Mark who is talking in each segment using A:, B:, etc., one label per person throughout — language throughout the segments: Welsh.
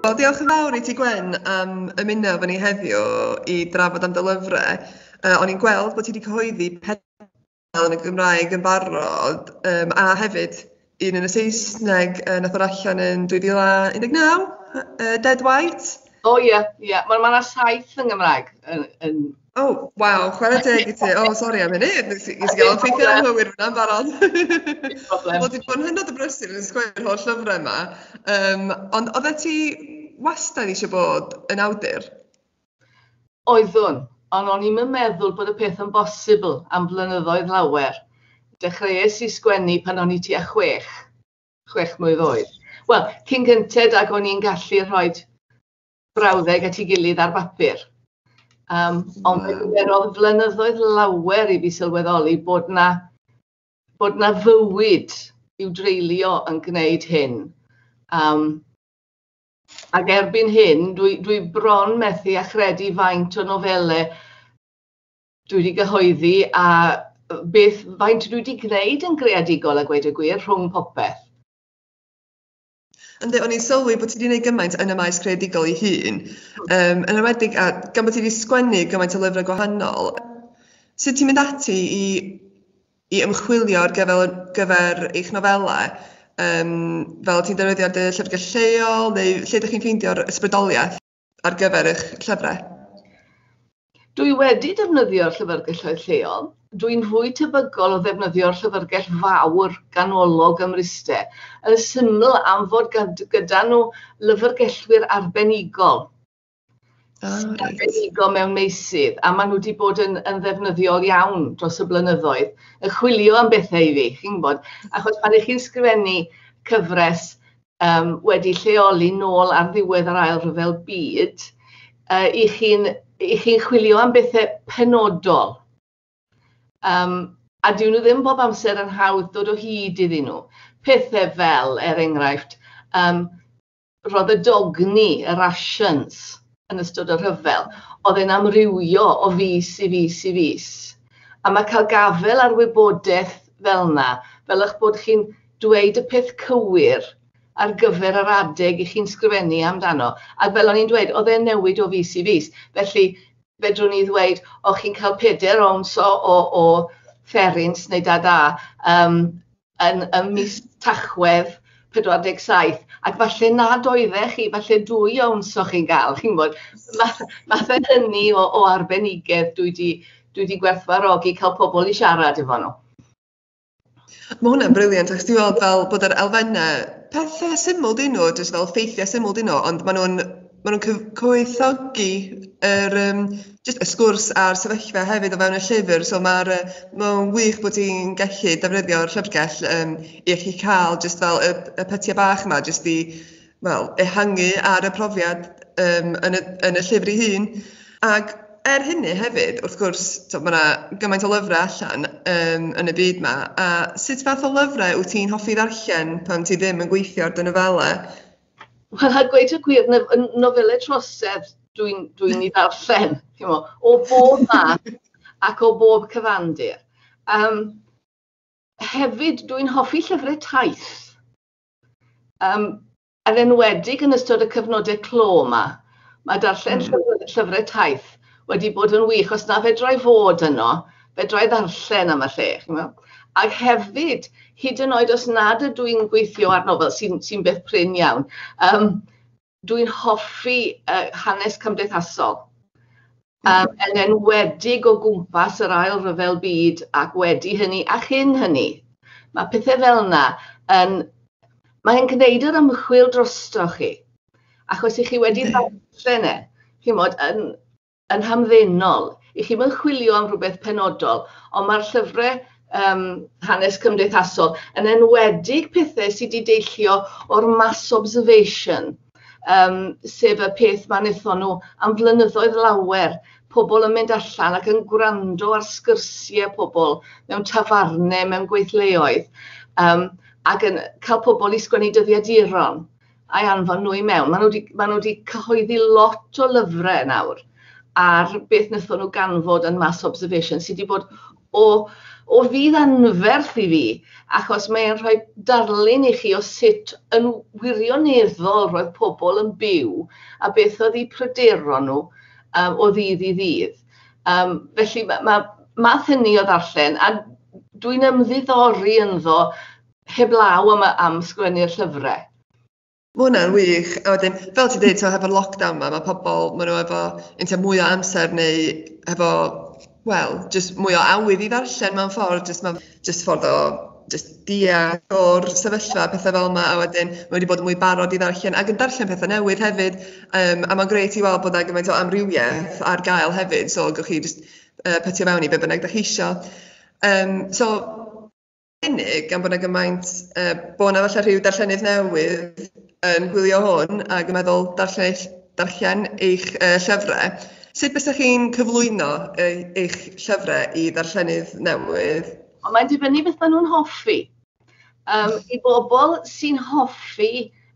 A: Wel, diolch yn fawr i ti Gwen am ymuno efo ni heddiw i drafod am dy lyfrau. Uh, o'n i'n gweld bod ti wedi cyhoeddi pedal yn y Gymraeg yn barod um, a hefyd un yn y Saesneg uh, nath o'r allan yn 2019, uh, Dead White. O ie,
B: ie. Mae yna saith yn Gymraeg yn, yn Oh,
A: waw, chwarae teg i ti. Oh, sori am hynny, nes i nes i gael ffeithio am hywir fyna'n barod. Wel, di bod yn hynod o brysur yn sgwei'r holl lyfrau yma. Um, ond oedd ti wastad eisiau bod yn awdur?
B: Oeddwn, ond o'n i'n meddwl bod y peth yn bosibl am flynyddoedd lawer. Dechreuais i sgwennu pan o'n i tua chwech, chwech mlwydd oed. Wel, cyn gynted ag o'n i'n gallu rhoi brawddeg at ei gilydd ar bapur. Um, ond mae gymerodd flynyddoedd lawer i fi sylweddoli bod na, bod na fywyd i'w dreulio yn gwneud hyn. Um, ac erbyn hyn, dwi, dwi bron methu a chredu faint o nofelau dwi wedi gyhoeddi a beth faint dwi wedi gwneud yn greadigol a gweud y gwir rhwng popeth.
A: Ynddi, o'n i'n sylwi bod ti wedi gwneud gymaint yn y maes creadigol ei hun, um, yn ymwedig a gan bod ti wedi sgwennu gymaint o lyfrau gwahanol, sut ti'n mynd ati i, i ymchwilio ar gyfer, gyfer eich nofelau? Um, fel ti'n defnyddio dy llyfrgell lleol neu lle ydych chi'n ffeindio'r ysbrydoliaeth? ar gyfer eich llyfrau?
B: Dwi wedi defnyddio llyfrgelloedd lleol. Dwi'n fwy tebygol o ddefnyddio'r llyfrgell fawr ganolog ym Mryste, yn syml am fod gyda nhw lyfrgellwyr arbenigol. Oh, right. Arbenigol mewn meysydd, a maen nhw wedi bod yn, yn ddefnyddiol iawn dros y blynyddoedd, yn chwilio am bethau i fi, chi'n gwybod, achos pan ych chi'n sgrifennu cyfres yym wedi lleoli nôl ar ddiwedd yr ail rhyfel byd uh, i chi'n i chi'n chwilio am bethau penodol. Um, a dyn nhw ddim bob amser yn hawdd dod o hyd iddyn nhw. Pethau fel, er enghraifft, um, roedd y dogni, y rations, yn ystod y rhyfel, oedd e'n amrywio o fis i fis i fis. A mae cael gafel ar wybodaeth fel yna, fel eich bod chi'n dweud y peth cywir ar gyfer yr adeg i chi'n sgrifennu amdano, ac fel o'n i'n dweud, oedd e'n newid o fis i fis. Felly, fedrwn i ddweud, o chi'n cael peder owns o, o, o fferins neu da da, um, yn ym mis Tachwedd 47, ac falle nad oeddech chi, falle dwy owns o'ch chi'n gael, chi'n gwybod, math, math o hynny o, o arbenigedd dwi di, dwi di gwerthfarogi cael pobl i siarad efo nhw.
A: Mae hwnna'n briliant, ac ti'n gweld fel bod yr elfennau, pethau syml dyn nhw, jyst fel ffeithiau syml dyn nhw, ond maen nhw'n maen nhw'n cyf- cyfoethogi yr yym jyst y sgwrs a'r sefyllfa hefyd o fewn y llyfr, so mae'r yy mae'n wych bod ti'n gallu defnyddio'r llyfrgell yym i allu cael jyst fel y y pytiau bach yma jyst i wel ehangu ar y profiad yym yn y yn y llyfr ei hun. Ac er hynny hefyd wrth gwrs t'o' ma' 'na gymaint o lyfrau allan yym yn y byd 'ma a sut fath o lyfrau wyt ti'n hoffi ddarllen pan ti ddim yn gweithio ar dy nofelau? Wel a
B: gweud y gwir n- yn nofelau trosedd dwi'n dwi'n i ddarllen chi'mo o bob math ac o bob cyfandir yym hefyd dwi'n hoffi llyfrau taith yym yn enwedig yn ystod y cyfnode clo 'ma Ma' darllen llyfr- llyfre taith wedi bod yn wych, os na fedra i fod yno, fedra i ddarllen am y lle, ch'mo'? Ac hefyd, hyd yn oed os nad ydw i'n gweithio ar nofel, sy'n sy'n beth prin iawn, yym, dwi'n hoffi yy hanes cymdeithasol. Yym yn enwedig o gwmpas yr Ail Ryfel Byd ac wedi hynny a chyn hynny. Mae pethe fel yna yn... mae'n gwneud yr ymchwil drostoch chi, achos 'y chi wedi darllen e, chi'mod, yn yn hamddenol. 'Y chi'm yn chwilio am rywbeth penodol, ond ma'r llyfre yym hanes cymdeithasol, yn enwedig pethe sy 'di deillio o'r mass observation, yym sef y peth mae'n wnaethon nhw am flynyddoedd lawer, pobl yn mynd allan ac yn gwrando ar sgyrsiau pobl mewn tafarnau, mewn gweithleoedd, yym ac yn cael pobl i sgwennu dyddiaduron a'i anfon nhw i mewn. Maen nhw 'di maen nhw 'di cyhoeddi lot o lyfrau nawr ar beth wnaethon nhw ganfod yn Mass Observation sy 'di bod o, o fudd anferth i fi, achos mae e'n rhoi darlun i chi o sut yn wirioneddol roedd pobl yn byw a beth oedd eu pryderon nhw um, o ddydd i ddydd. Um, felly mae ma, math hynny o ddarllen, a dwi'n ymddiddori ynddo heblaw am, am sgwennu'r llyfrau. Mae hwnna'n
A: wych. A wedyn, fel ti'n dweud, hefo'r lockdown yma, mae pobl, maen nhw efo inta mwy o amser neu efo, wel, jyst mwy o awydd i ddarllen mewn ffordd, jyst mae'n jyst ffordd o jyst deall o'r sefyllfa, pethau fel yma, a wedyn mae wedi bod yn mwy barod i ddarllen ac yn darllen pethau newydd hefyd, um, a mae'n greit i weld bod yna gymaint o amrywiaeth ar gael hefyd, so gwych chi jyst uh, petio fewn i be bynnag da chi eisiau. Um, so, unig, gan bod 'na gymaint, yy, bo' 'na falle rhyw darllenydd newydd yn gwylio hwn ac yn meddwl darllen eich, darllen eich uh, llyfrau. Sut bysach chi'n cyflwyno uh, eich llyfrau i ddarllenydd newydd? Ond mae'n dibynnu beth
B: maen nhw'n hoffi. Um, I bobl sy'n hoffi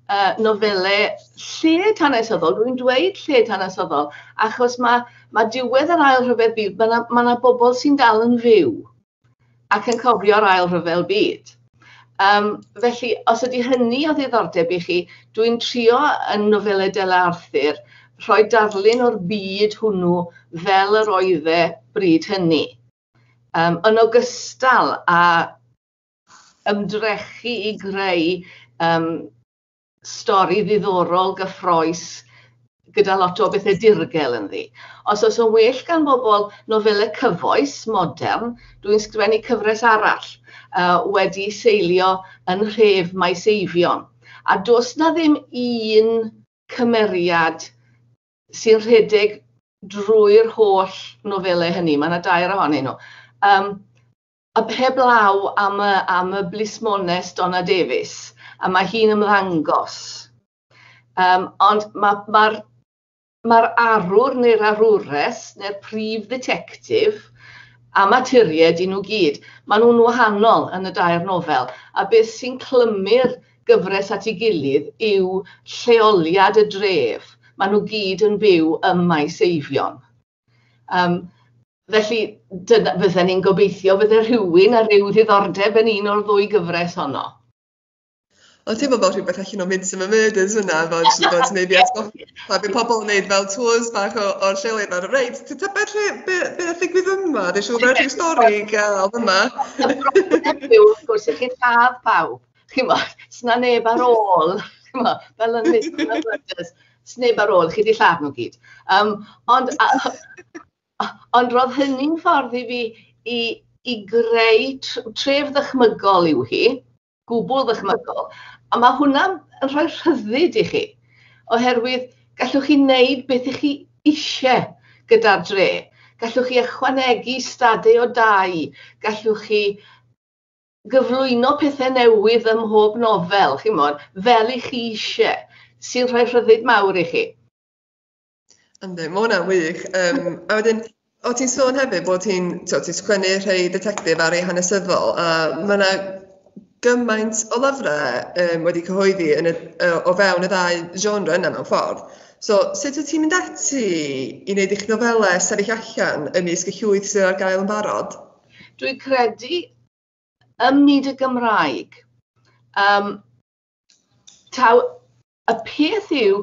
B: uh, nofelau lled hanesyddol, rwy'n dweud lled hanesyddol, achos mae, mae diwedd yr ail rhyfedd byd, mae yna ma bobl sy'n dal yn fyw. ac yn cofio'r ail rhyfel byd. Um, felly, os ydy hynny o ddiddordeb i chi, dwi'n trio yn nofelau Dela Arthur rhoi darlun o'r byd hwnnw fel yr oedd e bryd hynny. Um, yn ogystal a ymdrechu i greu um, stori ddiddorol, gyffroes, gyda lot o bethau dirgel ynddi. Os oes yn well gan bobl nofelau cyfoes, modern, dwi'n sgrifennu cyfres arall uh, wedi seilio yn rhef Maes Eifion. A dos na ddim un cymeriad sy'n rhedeg drwy'r holl nofelau hynny. Mae yna dair ohonyn nhw. Um, Heblaw am y am y blismones Donna Davies a mae hi'n ymddangos yym ond ma' ma'r ma'r arwr neu'r arwres neu'r prif dditectif a maturied i nhw gyd, ma' nhw'n wahanol yn y dair nofel a beth sy'n clymu'r gyfres at ei gilydd yw lleoliad y dref, ma' nhw gyd yn byw ym Maes Eifion. Yym felly dyna fydden ni'n gobeithio fydde rhywun â rhyw ddiddordeb yn un o'r ddwy gyfres honno.
A: O'n teimlo fel rhywbeth allan o Midsummer Murders yna, fel jyst bod neu fi atgoffa, pa fi pobl yn neud fel tours bach o, o'r lleoedd yma, reit, ti'n tybed lle, be, be a ddigwydd yma, dwi'n siŵr bod rhyw stori i gael yma.
B: Wrth gwrs, i chi'n lladd pawb. ch'mod, s'na neb ar ôl, ch'mod, fel yn Mister Porter, sneb ar ôl, chi 'di lladd nhw gyd, yym ond a- ond ro'dd hynny'n ffordd i fi i i greu tr- tref ddychmygol yw hi, gwbwl ddychmygol, a ma' hwnna'n yn rhoi rhyddid i chi, oherwydd gallwch chi neud beth 'ych chi isie gyda'r dre, gallwch chi ychwanegu stade o dai, gallwch chi gyflwyno pethe newydd ym mhob nofel, chimod, fel i chi isie, sy'n rhoi rhyddid mawr i chi.
A: Yndi, mae hwnna'n wych. Um, a wedyn, o ti'n sôn hefyd bod ti'n ti sgwennu rhai detectif a rhai hanesyddol, a mae yna gymaint o lyfrau um, wedi cyhoeddi yn y, o fewn y ddau genre yna mewn ffordd. So, sut wyt ti'n mynd ati i wneud eich nofelau sefyll allan ymysg y llwyth sydd ar gael yn barod? Dwi'n credu
B: ym myd y Gymraeg, um, taw y peth yw,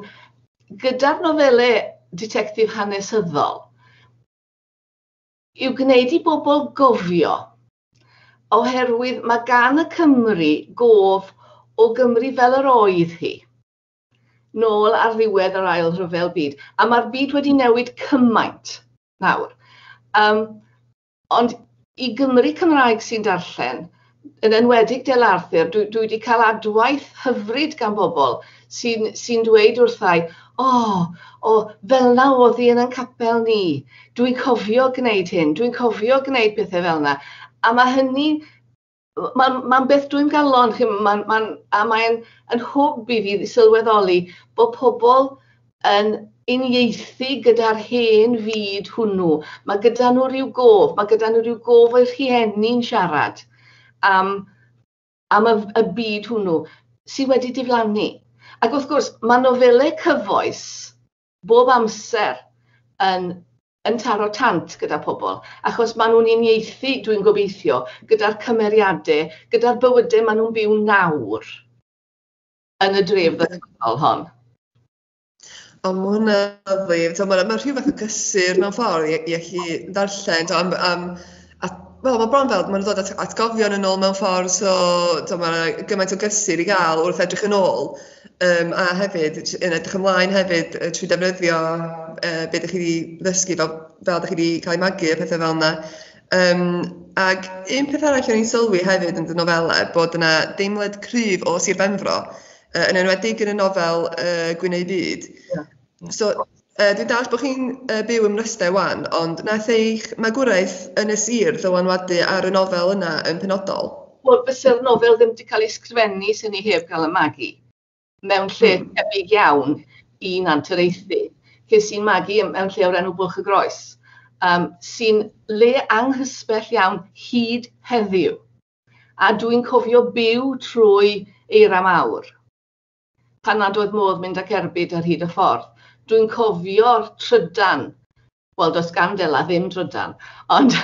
B: gyda'r nofelau detectif hanesyddol, yw gwneud i bobl gofio, oherwydd mae gan y Cymru gof o Gymru fel yr oedd hi, nôl ar ddiwedd yr ail rhyfel byd, a mae'r byd wedi newid cymaint nawr. Um, Ond i Gymry Cymraeg sy'n darllen, yn enwedig Del Arthur, dwi dwi 'di cael adwaith hyfryd gan bobl sy'n sy'n dweud wrthai, O, o, fel 'na o'dd hi yn ein capel ni, dwi'n cofio gneud hyn, dwi'n cofio gneud pethe fel 'na. A ma' hynny Mae'n mae'n beth dwi'n galon, chi'n gwybod, mae'n mae'n... a mae'n yn hwb i fi sylweddoli bod pobl yn unieithu gyda'r hen fyd hwnnw. Mae gyda nhw ryw gof, mae gyda nhw ryw gof o'i rhieni'n siarad am am y y byd hwnnw sy wedi diflannu. Ac wrth gwrs, mae nofelau cyfoes bob amser yn yn taro tant gyda pobl, achos maen nhw'n unieithu, dwi'n gobeithio, gyda'r cymeriadau, gyda'r bywydau maen nhw'n byw nawr yn y dref ddyfodol hon.
A: O, mae hwnna lyfli. Mae rhyw fath o gysur mewn ffordd i, i allu ddarllen am, am A wel ma' bron fel ma' nw'n dod at atgofion yn ôl mewn ffordd so t'o' ma' 'na gymaint o gysur i ga'l wrth edrych yn ôl yym a hefyd t- yn edrych ymlaen hefyd yy trwy defnyddio yy be' 'dych chi 'di ddysgu fel fel 'dych chi 'di cael ei magu a pethe fel 'na yym ag un peth arall o'n i'n sylwi hefyd yn dy nofele bod yna deimlad cryf o Sir Benfro yy yn enwedig yn y nofel yy Gwyn ei fyd. Ie. So yy dwi'n dallt bod chi'n yy byw ym Mryste 'wan, ond wnaeth eich magwraeth yn y sir ddylanwadu ar y nofel yna yn penodol? Wel fyse'r
B: nofel ddim 'di cael ei sgrifennu 'sen ni heb gael y magu mewn lle tebyg iawn i Nant yr Eithin. Ces i'n magu ym- mewn lle o'r enw Bwlch y Groes yym sy'n le anghysbell iawn hyd heddiw a dwi'n cofio byw trwy eira mawr. pan nad oedd modd mynd ac erbyd ar hyd y ffordd. Dwi'n cofio'r trydan, wel does gan Dela ddim drydan, ond,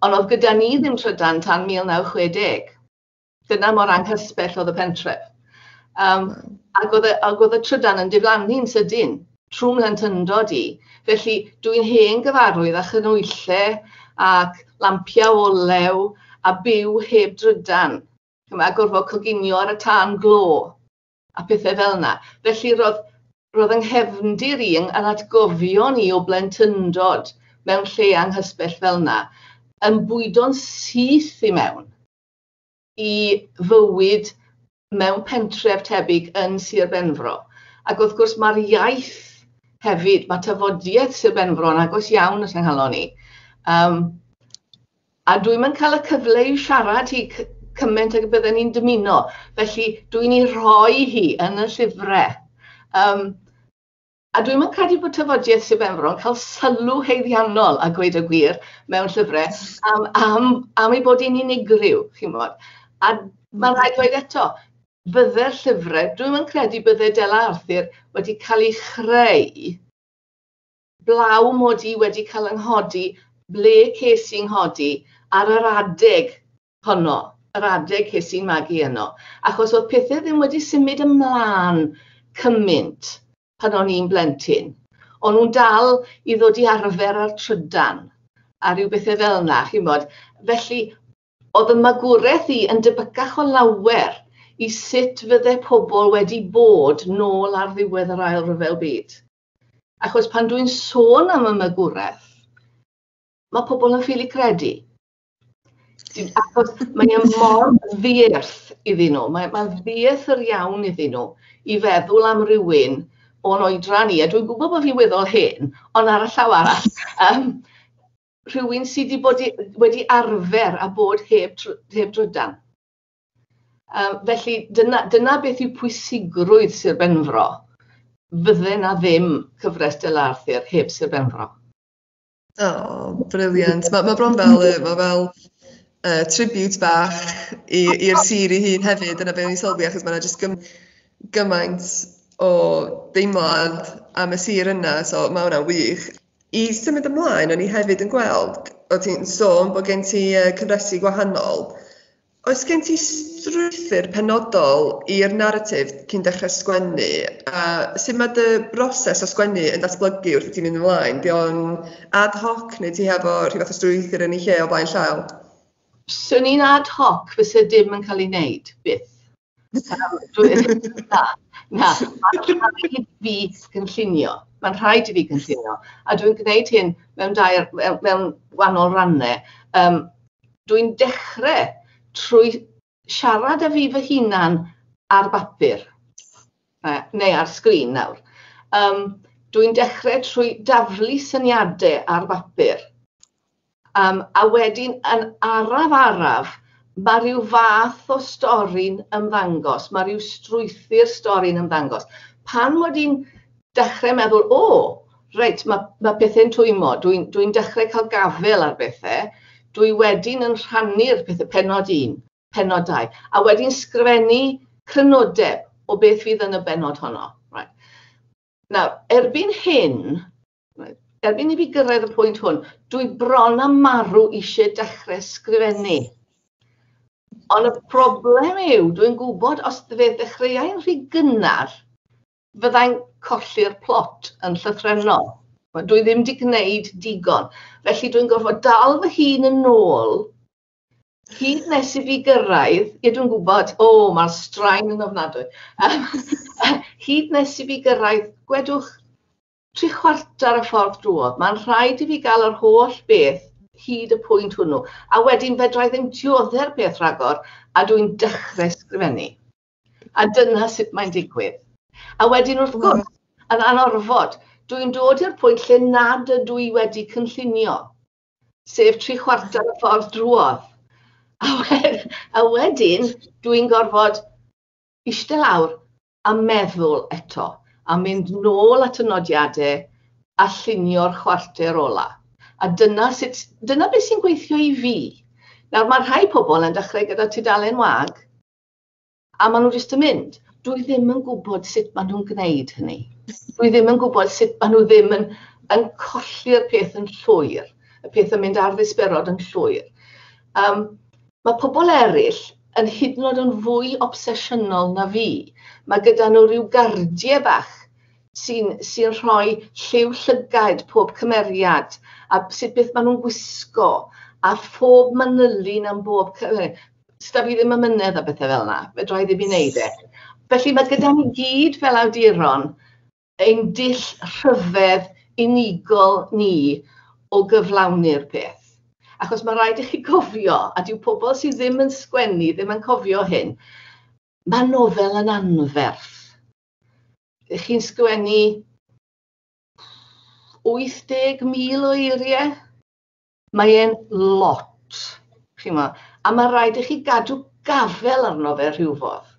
B: ond oedd gyda ni ddim trydan tan 1960. Dyna mor anghysbell oedd y pentref. Um, ac, oedd, ac oedd y trydan yn diflannu'n sydyn trwy mhlentyndod i. Felly dwi'n hen gyfarwydd â chynwylle ac lampiau olew a byw heb drydan. chymod, gorfod coginio ar y tân glo a pethau fel yna. Felly roedd, roedd yng nghefndir i, yn atgofion i o blentyndod mewn lle anghysbell fel yna, yn bwydo'n syth i mewn i fywyd mewn pentref tebyg yn Sir Benfro. Ac wrth gwrs mae'r iaith hefyd, mae tafodiaeth Sir Benfro yn agos iawn at yng nghalon i. Um, A dwi'm yn cael y cyfle i siarad hi c- cymaint ag y bydden i'n dymuno, felly dwi'n ei rhoi hi yn y llyfrau. Um, a dwi'm yn credu bod tafodiaith Sir Benfro yn cael sylw heiddiannol a gweud y gwir mewn llyfrau am, am, am ei bod hi'n unigryw, chi'n bod. A mae rhaid dweud eto, bydde'r llyfrau, dwi'n yn credu bydde Dela Arthur wedi cael ei chreu blaw mod i wedi cael yng nghodi ble ces i nghodi, ar yr adeg honno, yr adeg ces i'n magu yno, achos oedd pethe ddim wedi symud ymlân cymynt pan o'n i'n blentyn, o'n nhw'n dal i ddod i arfer â'r trydan a rhyw bethe fel 'na, chimod, felly oedd y magwraeth i yn debycach o lawer i sut fydde pobl wedi bod nôl ar ddiwedd yr Ail Ryfel Byd. Achos pan dwi'n sôn am y magwraeth, mae pobl yn ffili credu. Achos mae yna mor ddierth iddyn nhw, mae'n mae ddierth yr iawn iddyn nhw i feddwl am rywun o'n oedran ni, a dwi'n gwybod bod fi'n weddol hen, ond ar y llaw arall, um, rhywun sydd wedi, bod wedi arfer a bod heb, heb drydan. Um, felly, dyna, dyna beth yw pwysigrwydd Sir Benfro. Fydde na ddim cyfres Del Arthur heb Sir Benfro. O,
A: oh, briliant. Mae ma bron fel, ma fel uh, tribute bach i'r sir i hun hefyd, dyna beth o'n i'n sylwi, achos mae'n jyst gym, gymaint o deimlad am y sir yna, so mae hwnna'n wych. I symud ymlaen, o'n i hefyd yn gweld, o ti'n sôn bod gen ti uh, cyfresu gwahanol, Oes gen ti strwythur penodol i'r naratif cyn dechrau sgwennu? A sut mae dy broses o sgwennu yn datblygu wrth i ti mynd ymlaen? Di o'n ad hoc neu ti hefo rhyw fath o strwythur yn ei lle o flaen llaw? Swn
B: i'n ad hoc fyse dim yn cael ei wneud, byth. Na, na, mae'n rhaid i fi gynllunio, mae'n rhaid i fi gynllunio, a dwi'n gwneud hyn mewn dair, mewn mewn wahanol rannau, yym dwi'n dechre trwy siarad â fi fy hunan ar bapur, neu ar sgrin nawr, yym dwi'n dechre trwy daflu syniade ar bapur, Yym a wedyn yn araf araf ma' ryw fath o stori'n ymddangos, ma' ryw strwythur stori'n ymddangos. Pan mod i'n dechre meddwl o reit ma' ma' pethe'n twymmo, dwi'n dwi'n dechre ca'l gafel ar bethe, dwi wedyn yn rhannu'r pethe, pennod un, pennod dau, a wedyn sgrifennu crynodeb o beth fydd yn y bennod honno. Reit. Nawr erbyn hyn Erbyn i fi gyrraedd y pwynt hwn, dwi bron a marw eisiau dechrau sgrifennu. Ond y problem yw, dwi'n gwybod os fe ddechreuai'n rhy gynnar, fyddai'n colli'r plot yn llythrennol. Dwi ddim wedi gwneud digon. Felly dwi'n gorfod dal fy hun yn ôl hyd nes i fi gyrraedd, ie dwi'n gwybod, o oh, mae'r straen yn ofnadwy, hyd nes i fi gyrraedd, gwedwch tri chwarter y ffordd drwodd, mae'n rhaid i fi gael yr holl beth hyd y pwynt hwnnw, a wedyn fedra i ddim diodde'r peth rhagor, a dw i'n dechrau sgrifennu. A dyna sut mae'n digwydd. A wedyn wrth gwrs, yn anorfod, dw i'n dod i'r pwynt lle nad ydw i wedi cynllunio, sef tri chwarter y ffordd drwodd. A, wed, a wedyn, dw i'n gorfod eistedd lawr a meddwl eto, a mynd nôl at y nodiadau a llunio'r chwarter ola. A dyna sut, dyna beth sy'n gweithio i fi. Nawr, mae rhai pobl yn dechrau gyda tudalen wag, a maen nhw jyst yn mynd. Dwi ddim yn gwybod sut maen nhw'n gwneud hynny. Dwi ddim yn gwybod sut maen nhw ddim yn, yn colli'r peth yn llwyr, y peth yn mynd ar ddisberod yn llwyr. Um, Mae pobl eraill yn hyd yn oed yn fwy obsesiynol na fi. Mae gyda nhw ryw gardiau bach sy'n sy'n rhoi lliw llygaid pob cymeriad, a sut beth maen nhw'n gwisgo, a phob manylyn am bob cy-... 'sda fi ddim amynedd â bethe fel 'na, fedra i ddim 'i neud e. Felly, mae gyda ni gyd fel awduron, ein dull rhyfedd unigol ni o gyflawni'r peth. Achos mae'n rhaid i chi gofio, a dyw pobl sydd ddim yn sgwennu ddim yn cofio hyn, mae nofel yn anferth. Ydych chi'n sgwennu 80,000 o eiriau? Mae e'n lot, chi'n gwybod, a mae rhaid i chi gadw gafel arno fe rhywfodd.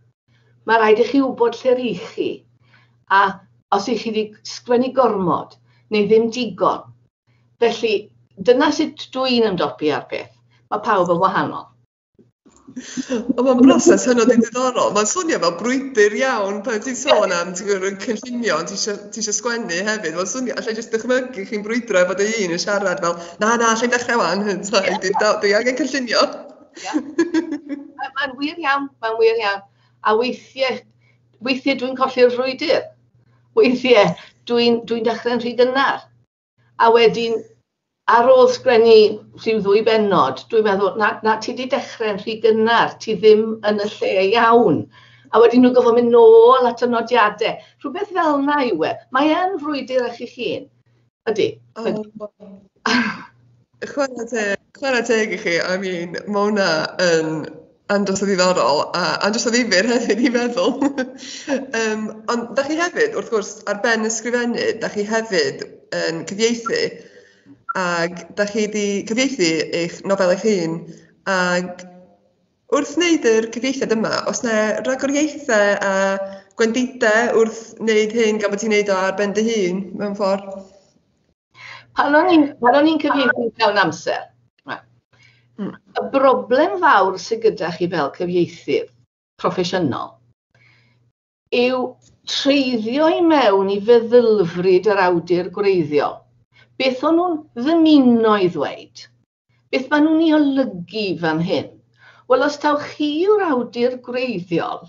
B: Mae rhaid i chi wybod lle rhi chi, a os i chi wedi sgwennu gormod, neu ddim digon. Felly, dyna sut dw i'n ymdopi â'r peth. Mae pawb yn wahanol.
A: Ond mae'n broses hynod i ddiddorol. Mae'n swnio fel brwydr iawn pan ti'n sôn am, ti'n gwybod, yn cynllunio, ti eisiau, ti eisiau sgwennu hefyd. Mae'n swnio, allai jyst dychmygu chi'n brwydro efo dy un yn siarad fel, na, na, allai dechrau wan, dwi angen cynllunio. Mae'n
B: wir iawn, mae'n wir iawn. A weithiau, weithiau dwi'n colli'r frwydr. Weithiau, dwi'n dwi, dwi dechrau'n rhy gynnar. A wedyn, ar ôl sgwennu rhyw ddwy bennod, dwi'n meddwl, na, na, ti wedi dechrau'n rhy gynnar, ti ddim yn y lle iawn. A wedyn nhw'n gorfod mynd nôl at y nodiadau. Rhywbeth fel yna yw e. Mae e'n frwydr ar chi'ch hun. Ydy.
A: Chwarae teg, chwarae teg i chi. I mean, mae hwnna yn andros o ddiddorol a andros o ddifyr hefyd i feddwl. um, ond da chi hefyd, wrth gwrs, ar ben ysgrifennu, da chi hefyd yn cyfieithu ac da chi wedi cyfieithu eich nofel eich hun ac wrth wneud yr cyfieithiad yma, os na ragoriaethau a gwendidau wrth wneud hyn gan bod ti'n wneud o ar ben dy hun mewn ffordd?
B: Pan o'n i'n pan o'n i'n cyfieithu llawn amser, y broblem fawr sydd gyda chi fel cyfieithydd proffesiynol yw treiddio i mewn i feddylfryd yr awdur gwreiddiol. Beth o'n nhw'n ddymuno i ddweud? Beth maen nhw'n ei olygu fan hyn? Wel, os taw chi yw'r awdur gwreiddiol,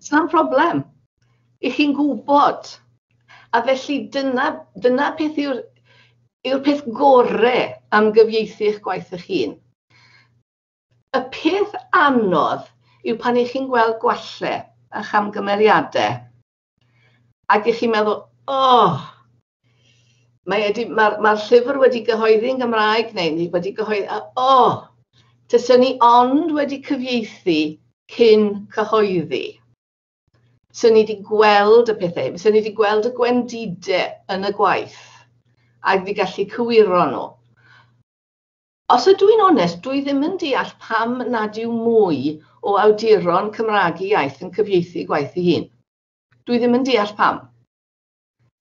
B: Sa'n problem. I chi'n gwybod. A felly dyna, dyna peth yw'r yw'r peth gore am gyfieithu eich gwaith eich hun. Y peth anodd yw pan i chi'n gweld gwalle a chamgymeriadau Ac i chi meddwl, oh, mae'r mae, ma, ma llyfr wedi gyhoeddi yn Gymraeg neu ni wedi gyhoeddi, oh, tyswn ni ond wedi cyfieithu cyn cyhoeddi. Swn ni wedi gweld y pethau, swn ni wedi gweld y gwendidau yn y gwaith ac wedi gallu cywiro nhw. Os ydw i'n onest, dwi ddim yn deall pam nad yw mwy o awduron Cymraeg y iaith yn cyfieithu gwaith ei hun. Dwi ddim yn deall pam.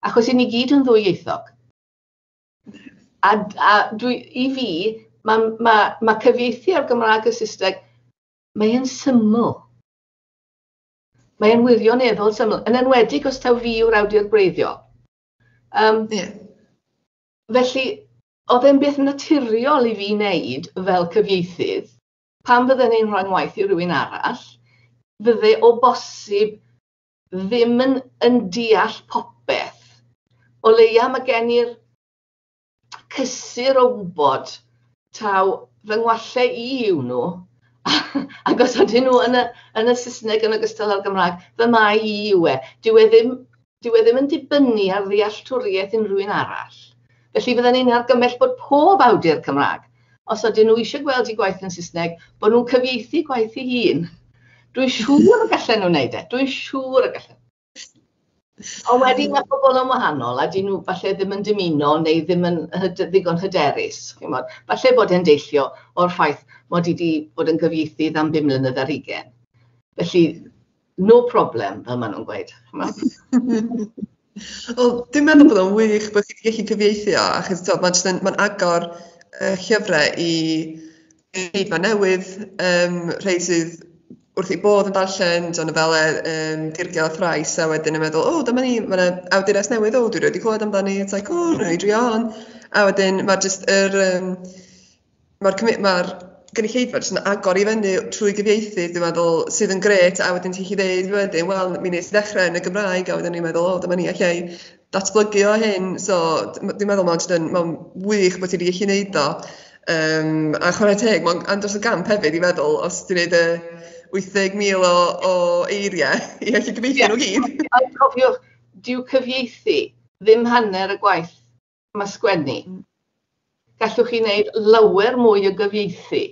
B: Achos i ni gyd yn ddwyieithog. A, a dwi, i fi, mae ma, ma cyfieithu o'r Gymraeg y Saesneg, mae'n syml. Mae'n wirioneddol syml, yn enwedig os taw fi yw'r awdur gwreiddiol. Um, yeah. Felly, Oedd e'n beth naturiol i fi wneud fel cyfieithydd, pan fydden i'n rhoi ngwaith i rywun arall, fydde o bosib ddim yn yn deall popeth, o leia ma' gen i'r cysur o wybod taw fy ngwalle i yw nhw, ac os ydyn nhw yn y yn y Saesneg yn ogystal â'r Gymraeg, fy mai i yw e. Dyw e ddim Dyw e ddim yn dibynnu ar ddealltwriaeth unrhyw un arall. Felly fydden i'n argymell bod pob awdur Cymraeg, os ydyn nhw eisiau gweld eu gwaith yn Saesneg, bod nhw'n cyfieithu gwaith ei hun. Dwi'n siŵr y gallen nhw wneud e, dwi'n siŵr y gallen. Ond wedyn mae pobl yn wahanol a dyn nhw falle ddim yn dymuno neu ddim yn hyd- ddigon hyderus, chimod. Falle bod e'n deillio o'r ffaith mod i 'di bod yn gyfieithydd am bum mlynedd ar hugain. Felly, No problem, fel maen nhw'n gweud, chimod.
A: Wel, dwi'n meddwl bod o'n wych bod chi'n gallu cyfieithu o, achos tibod, mae'n jyst yn, mae'n agor y llyfrau i eiddo newydd, um, rhai sydd wrth ei bodd yn darllen, John Avella, um, Dirgio Thrais, a wedyn yn meddwl, o, oh, dyma ni, mae yna awdures newydd, o, oh, dwi wedi clywed amdani, it's like, o, oh, rhaid i on. A wedyn, mae jyst yr, um, ma'r cymu- ma'r gynulleidfa jyst yn agor i fyny trwy gyfieithu dwi'n meddwl sydd yn grêt a wedyn ti'n gallu dweud wedyn wel mi wnes i ddechrau yn y Gymraeg a wedyn o'n i'n meddwl o dyma ni alla i datblygu o hyn so d- m- dwi'n meddwl mae'n jyst yn mae'n wych bod ti wedi gallu wneud o yym a chwarae teg mae'n andros o gamp hefyd i feddwl os ti'n neud y wyth deg mil o o eiriau i allu cyfieithu nhw i gyd. Ie ond cofiwch
B: dyw cyfieithu ddim hanner y gwaith. mae sgwennu. Gallwch chi wneud lawer mwy o gyfieithu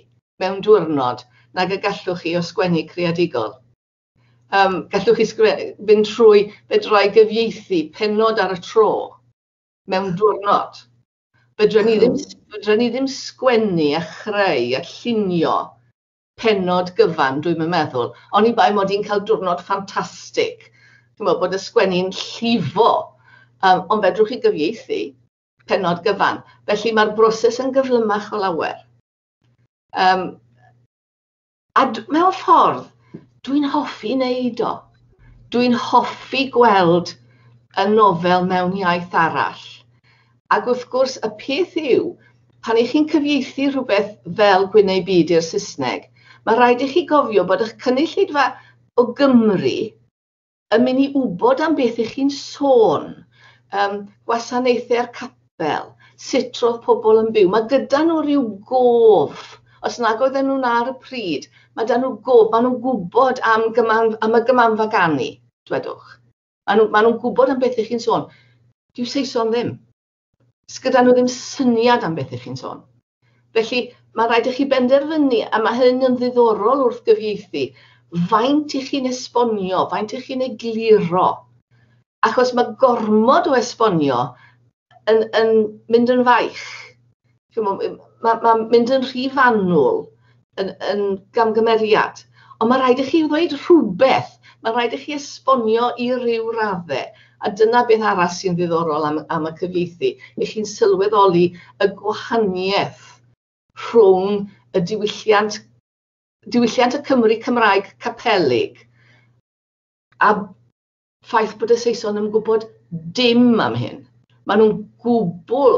B: mewn diwrnod nag y gallwch chi o sgwennu creadigol. Um, gallwch chi fynd trwy fedrai gyfieithu penod ar y tro mewn diwrnod. Fedra ni ddim, fedra ni ddim sgwennu a chreu a llunio pennod gyfan dwi'm yn meddwl, oni bai mod i'n cael diwrnod ffantastig, ch'mod bod y sgwenni'n llifo, yym ond fedrwch chi gyfieithu pennod gyfan, felly mae'r broses yn gyflymach o lawer. Yym a d- mewn ffordd dwi'n hoffi wneud o. Dwi'n hoffi gweld y nofel mewn iaith arall Ac wrth gwrs, y peth yw, pan 'y chi'n cyfieithu rhywbeth fel Gwyn ei Byd i'r Saesneg, mae rhaid i chi gofio bod eich cynulleidfa o Gymry yn mynd i wybod am beth 'y chi'n sôn, yym, gwasanaethau'r capel, sut roedd pobl yn byw. Mae gyda nhw ryw gof, os nag oedden nhw 'na ar y pryd, mae 'da nhw gof, maen nhw'n gwybod am gyman- am y Gymanfa Ganu, dwedwch. Maen nhw, maen nhw'n gwybod am beth ych chi'n sôn. Dyw Saeson ddim. Sgyda nhw ddim syniad am beth ych chi'n sôn. Felly, mae'n rhaid i chi benderfynu, a mae hyn yn ddiddorol wrth gyfieithu, faint i chi'n esbonio, faint i chi'n egluro. Achos mae gormod o esbonio yn, yn mynd yn faich. Mae'n ma, ma mynd yn rhy fanwl yn, yn gamgymeriad. Ond mae rhaid i chi ddweud rhywbeth, mae rhaid i chi esbonio i ryw raddau. A dyna beth arall sy'n ddiddorol am, am y cyfieithu. I chi'n sylweddoli y gwahaniaeth rhwng y diwylliant, diwylliant y Cymru Cymraeg capelig a ffaith bod y Saeson yn gwybod dim am hyn. Mae nhw'n gwbl...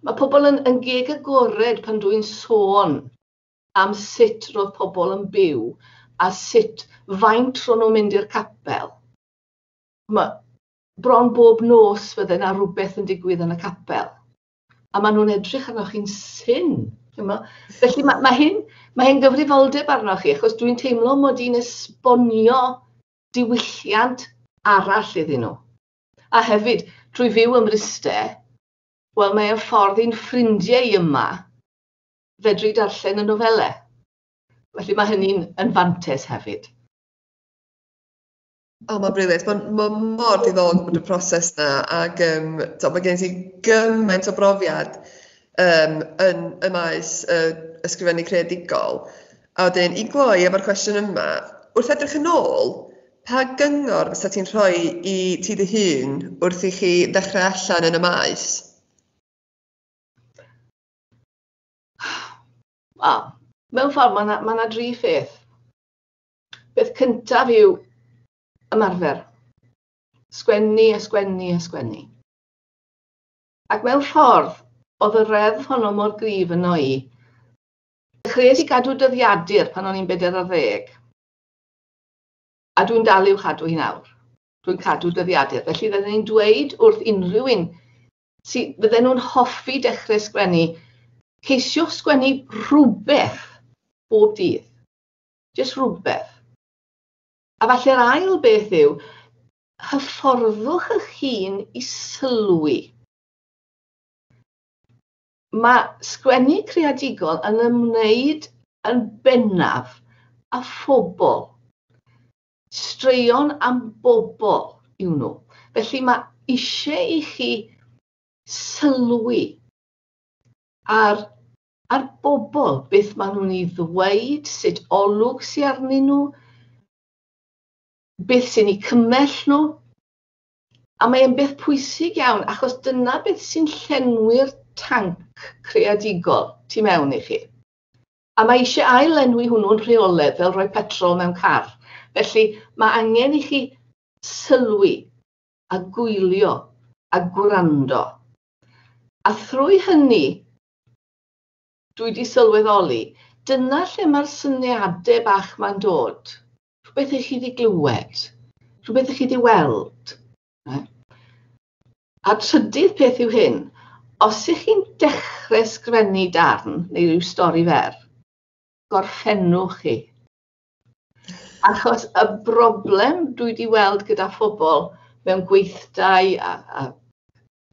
B: Mae pobl yn, yn geg agored pan dwi'n sôn am sut roedd pobl yn byw a sut faint ro'n nhw'n mynd i'r capel. Mae bron bob nos fydde yna rhywbeth yn digwydd yn y capel. a maen nhw'n edrych arnoch chi'n syn. Felly mae, mae hyn, mae hyn gyfrifoldeb arnoch chi, achos dwi'n teimlo mod i'n esbonio diwylliant arall iddyn nhw. A hefyd, trwy fyw ym Mryste, wel mae o'n ffordd i'n ffrindiau i yma fedru darllen y nofelau. Felly mae hynny'n yn fantes hefyd.
A: O, mae'n brilliant. Mae'n ma mor diddorol bod y proses yna ac yym tibod mae gen ti gymaint o brofiad yym yn y maes yy ysgrifennu creadigol. A wedyn i gloi efo'r cwestiwn yma, wrth edrych yn ôl, pa gyngor fysa ti'n rhoi i ti dy hun wrth i chi ddechrau allan yn y maes? Wel,
B: mewn ffordd mae yna ma' yna dri pheth. Peth cyntaf yw ymarfer. Sgwennu a sgwennu a sgwennu. Ac mewn ffordd, oedd y reddf honno mor grif yno i. Dechreuais i gadw dyddiadur pan o'n i'n bedair ar ddeg. A dwi'n dal i'w chadw hi nawr. Dwi'n cadw dyddiadur. Felly fydden ni'n dweud wrth unrhyw un sy fydden nhw'n hoffi dechrau sgwennu, ceisiwch sgwennu rhywbeth bob dydd. jyst rhywbeth. A falle'r ail beth yw, hyfforddwch eich hun i sylwi. Mae sgwennu creadigol yn ymwneud yn bennaf a phobl. Straeon am bobl yw nhw. Felly mae eisiau i chi sylwi ar A'r bobl, beth maen nhw'n ei ddweud, sut olwg sy arnyn nhw, beth sy'n eu cymell nhw. A mae e'n beth pwysig iawn, achos dyna beth sy'n llenwi'r tanc creadigol tu mewn i chi. A mae eisiau ail-lenwi hwnnw'n rheoledd fel rhoi petrol mewn car. Felly, mae angen i chi sylwi a gwylio a gwrando. A thrwy hynny, Dwi 'di sylweddoli, dyna lle mae'r syniadau bach 'ma'n dod. Rhywbeth i chi 'di glywed, rhywbeth i chi 'di weld. A trydydd peth yw hyn, os ych chi'n dechrau sgrennu darn neu ryw stori fer, gorffennwch chi. Achos y broblem dwi 'di weld gyda phobl mewn gweithdai a, a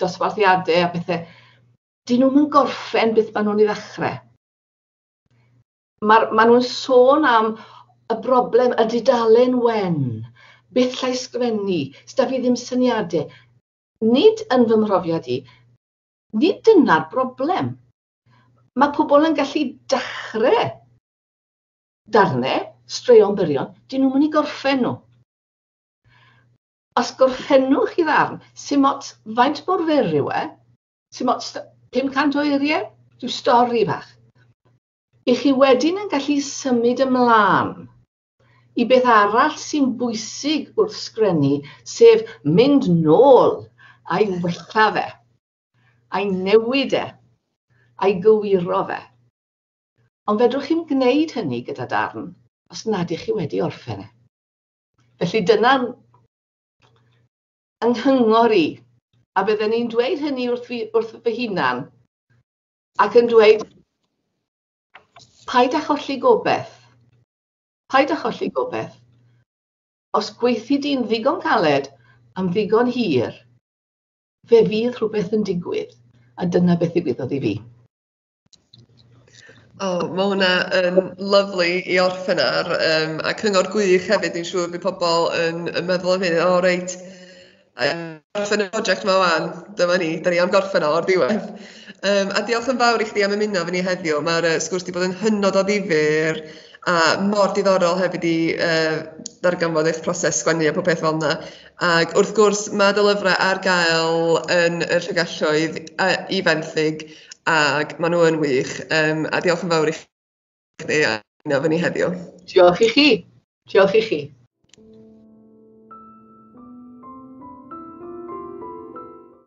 B: dosbarthiadau a pethau, 'dyn nhw'm yn gorffen beth ma' nhw'n ei ddechrau. Ma'r... ma' nhw'n sôn am y broblem, y dudalen wen, beth llai sgrifennu, s'da fi ddim syniadau. Nid yn fy mhrofiad i, nid dyna'r broblem. Mae pobl yn gallu dechrau darnau, straeon byrion, 'dyn nhw'm yn ei gorffen nhw. Os gorffennwch chi ddarn, 'sdim ots faint mor fyr yw e, ti'n mo, 500 o eiriau, rhyw stori fach. I chi wedyn yn gallu symud ymlaen i beth arall sy'n bwysig wrth sgrennu, sef mynd nôl a'i wella fe, a'i newid e, a'i gywiro fe. Ond fedrwch chi'n gwneud hynny gyda darn os nad ych chi wedi orffen e. Felly dyna yng nghyngor i, a bydden i'n dweud hynny wrth fi- wrth fy hunan, ac yn dweud, paid â cholli gobeth, paid â cholli gobeth. Os gweithdy di'n ddigon caled am ddigon hir, fe fydd rhywbeth yn digwydd, a dyna beth ddigwyddodd i fi.
A: O, ma' hwnna yn lyfli i orffen ar yym a cyngor gwych hefyd dwi'n siŵr bydd pobl yn yn meddwl am hyn, o reit yym gorffen y project 'ma ŵan, dyma ni, 'dan ni am gorffen o o'r diwedd! Yym a diolch yn fawr i chdi am ymuno efo ni heddiw, ma'r yy sgwrs 'di bod yn hynod o ddifyr a mor diddorol hefyd i yy ddarganfod eich proses sgwennu a popeth fel 'na. Ac wrth gwrs, mae dy lyfrau ar gael yn y Llygalloedd yy i fenthyg ac maen nhw yn wych yym a diolch yn fawr i chdi am ymuno efo ni
B: heddiw.
A: Diolch i chi, diolch
B: i chi.